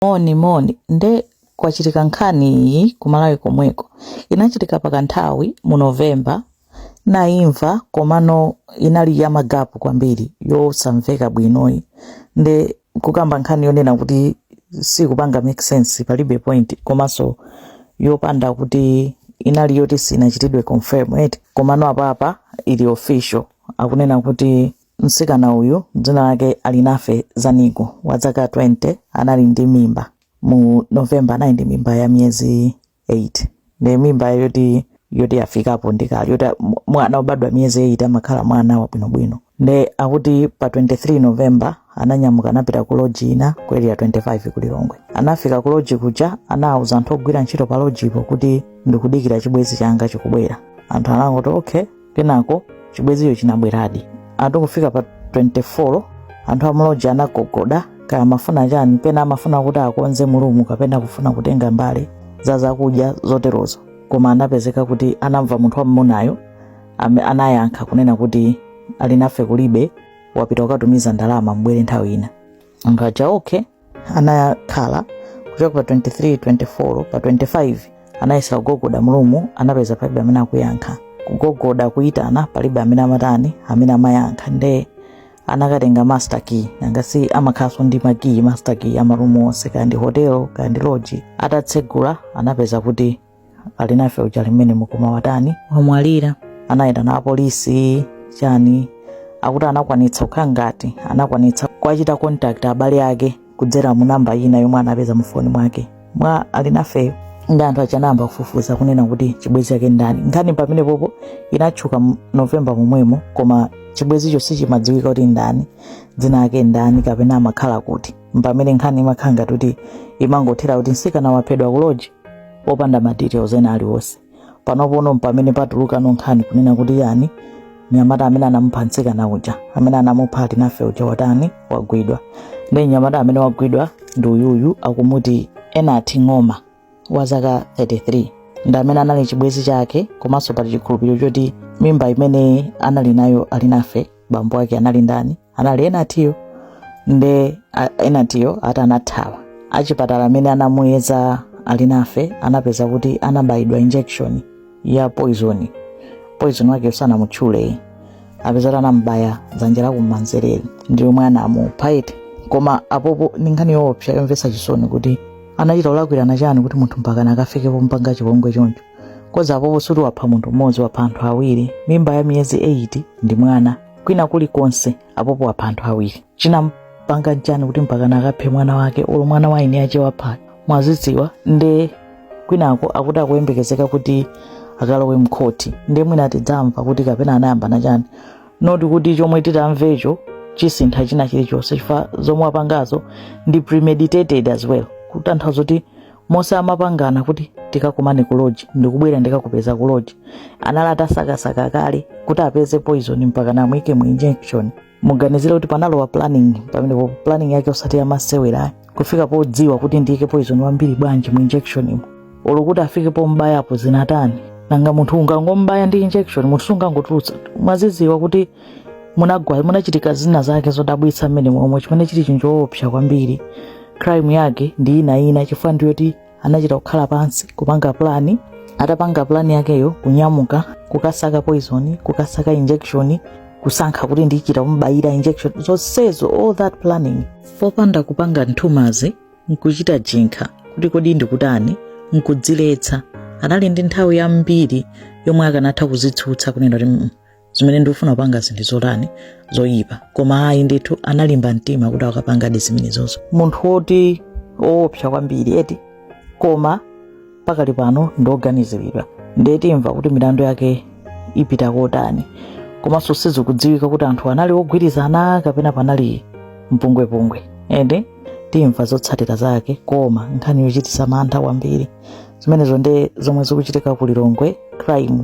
moni moni nde kwachitika nkhani iyi kumalawi komweko inachitika pakanthawi mu novemba ndinaimva komano inali ya magapu kwambiri yosamveka bwinoyi nde kukamba nkhani yonena kuti sikupanga make sense palibe point komanso yopanda kuti inali yoti sinachitidwe confirm eti komano apapa ili official akunena kuti Mtsikana uyu dzina lake Alinafe Zaniko wa zaka 20 anali ndi mimba mu November, anali ndi mimba ya miyezi 8 ndi mimba yoti yoti yafikapo ndi kale yoti mwana wobadwa miyezi 8 amakhala mwana wabwinobwino nde akuti pa 23 November ananyamuka anapita ku loji ina ku area 25 ku Lilongwe. Anafika ku loji kuja anawuza anthu ogwira ntchito pa lojipo kuti ndikudikira chibwezi changa chikubwera. Anthu anangoti okay kenako chibwezicho chinabweradi ati kufika pa 24 anthu amuloji anagogoda kaya amafuna chani pena amafuna kuti akonze mu rumu kapena kufuna kutenga mbale za zakudya zoterozo koma anapezeka kuti anamva munthu wammunayo anayankha kunena kuti Alinafe kulibe wapita kukatumiza ndalama mbwere nthawi ina anthu aja okay anakhala kuchoka pa 23 24 pa 25 anayesera kugogoda mu rumu anapeza palibe amene akuyankha kugogoda kuyitana palibe amene amatani amene amayankha nde anakatenga master key nanga si amakhalanso ndi makiyi master key a marumu onse kaya ndi hotelo kaya ndi loji atatsegula anapeza kuti Alinafe uja ali m'menemo koma watani wamwalira anaitana apolisi chani akuti anakwanitsa kukhala ngati anakwanitsa kuwachita contact abale ake kudzera mu namba ina yomwe anapeza mu foni mwake mwa Alinafeyo nde anthu anayamba kufufuza kunena kuti chibwenzi yake ndani nkhani pamenepopo inatchuka mu novemba momwemo koma chibwenzicho sichimadziwika kuti ndani dzina lake ndani kapena amakhala kuti mpamene nkhani imakhala ngati kuti imangothera kuti msikana waphedwa kuloji popanda ma details ena aliwonse panopono mpamene patulukano nkhani kunena kuti yani mnyamata amene anamupha mtsikana uja amene anamupha Alinafe uja watani wagwidwa nde mnyamata amene wagwidwa ndi uyuyu akumuti Enati Ng'oma wa zaka 33 ndi amene anali chibwenzi chake komanso pali chikhulupiriro choti mimba imene anali nayo Alinafe bambo ake anali ndani anali Enatiyo nde Enatiyo ati anathawa achipatala amene anamuyeza Alinafe anapeza kuti anabayidwa injection ya poison poison yake sanaitchuleyi apeza kuti anamubaya dzanja la kumanzereli ndi yomwe anamupha eti koma apopo ndi nkhani yoopsa yomvetsa chisoni kuti anachita kulakwirana chani kuti munthu mpaka akafike pompanga chipongwe choncho because apopo sikuti wapha munthu mmodzi wapha anthu awiri mimba ya miyezi 8 ndi mwana kwina kulikonse apapa wapha anthu awiri chinampanga n'chani kuti mpakana akaphe mwana wake olo mwana wa eniake wapha mwazidziwa nde kwinako akuti akuyembekezeka kuti akalowe mkhoti nde mwina tidzamva kuti kapena anayambana chani noti kuti chomwe titamvecho chisintha china chilichonse chifukwa zomwe apangazo ndi premeditated as well kutanthauza kuti mose amapangana kuti tikakumane ku lodge ndikubwera ndikakupeza ku lodge anali atasakasaka kale kuti apeze poison mpaka kumuyika mu injection muganizire kuti panalowa planning pamenepo planning yake osati yamasewera kufika podziwa kuti ndiyike poison wambiri bwanji mu injection umo olo kuti afike pombayapo zinatani nanga munthu ungangombaya ndi injection munthu sungangotulutsa mwazidziwa kuti munagwa munachitika zina zake zodabwitsa mmenemo chimene chili n'choopsa kwambiri crime yake ndi ina ina chifukwa ndiyoti anachita kukhala pansi kupanga plani atapanga plani yakeyo kunyamuka kukasaka poison kukasaka injection kusankha kuti ndichita kumbaya injection zonsezo all that planning popanda kupanga nthumazi nkuchita jinkha kuti kodi ndikutani nkudziletsa anali ndi nthawi yambiri yomwe akanatha kudzitsutsa kunena kuti "Mm, zimene ndikufuna kupanga zinthu zotani zoyipa koma ayi ndithu analimba mtima kuti akapangadi zimenezozo munthu woti woopsa kwambiri eti koma pakali pano ndi oganiziridwa ndiye timva kuti milandu yake ipita kotani komanso sizikudziwika kuti anthu anali ogwirizana kapena panali mpungwepungwe ende timva zotsatira zake koma nkhani yochititsa mantha kwambiri zimenezo nde zomwe zikuchitika ku lilongwe crime